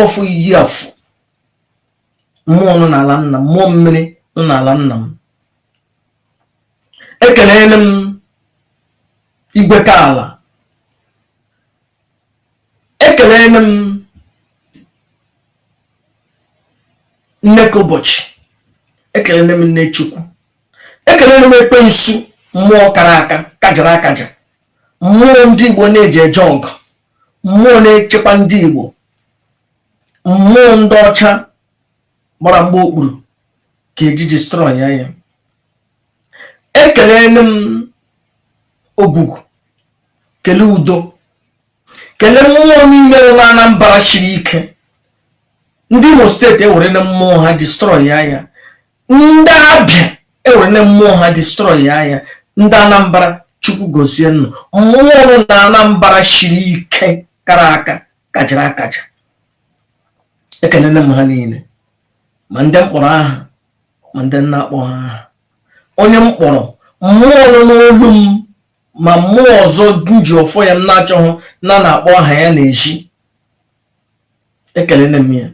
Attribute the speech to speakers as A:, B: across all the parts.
A: ọfọ iyi afọ mmụọ nọ n'ala nna m mmụọ mmiri nọ n'ala nna m ekelele m igwe ka ala ekelele m nne ka ụbọchị ekelele m nne chukwu ekelele m ekwensu mmụọ kara aka kajara akaja mmụọ ndị igbo na-eji eje ọgụ mmụọ na-echekwa ndị Igbo mmụọ ndị ọcha gbara mgba okpuru ka eji destroy ya ya ekelele m ogwugwu kele udo kele mmụọ niile nọ n'Anambra shiri ike ndị Imo steeti ewerele mmụọ ha destroy ya ya ndị abịa ewerele mmụọ ha destroy ya ya ndị anambra chukwu gozie unu mmụọ nọ na anambra shiri ike kara aka kajara akaja ekelele m ha niile ma ndị m kpọrọ aha ma ndị m na-akpọghị aha onye m kpọrọ mmụọ nọ n'olu m ma mmụọ ọzọ m ji ọfọ ya m na-achọghị na na-akpọ aha ya n'ezi ekelele m ya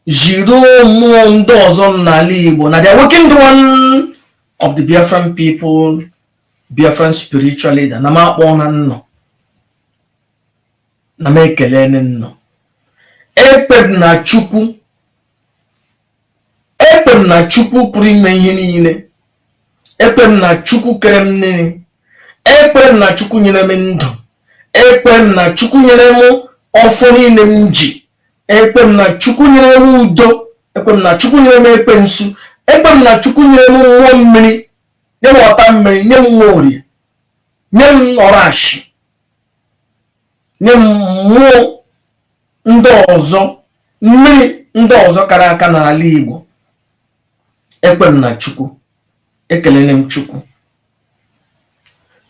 A: jiri mmụọ ndị ọzọ n'ala Igbo na the awakened one of the Biafran people Biafran spiritual leader na m akpọna unu na m ekelele unu ekwe m na Chukwu Ekwe m na Chukwu pụrụ ime ihe niile. Ekwe m na Chukwu kere m nne. Ekwe m na Chukwu nyere m ndụ. Ekwe m na Chukwu nyere m ọfọ niile m ji. Ekwe m na Chukwu nyere m udo. Ekwe m na Chukwu nyere m ekwensu. Ekwe m na Chukwu nyere m mmụọ mmiri. Nye m ọta mmiri, nye m Nworie, nye m ọrashi. nye m mmụọ ndị ọzọ mmiri ndị ọzọ kara aka n'ala Igbo ekwe m na Chukwu ekelele m Chukwu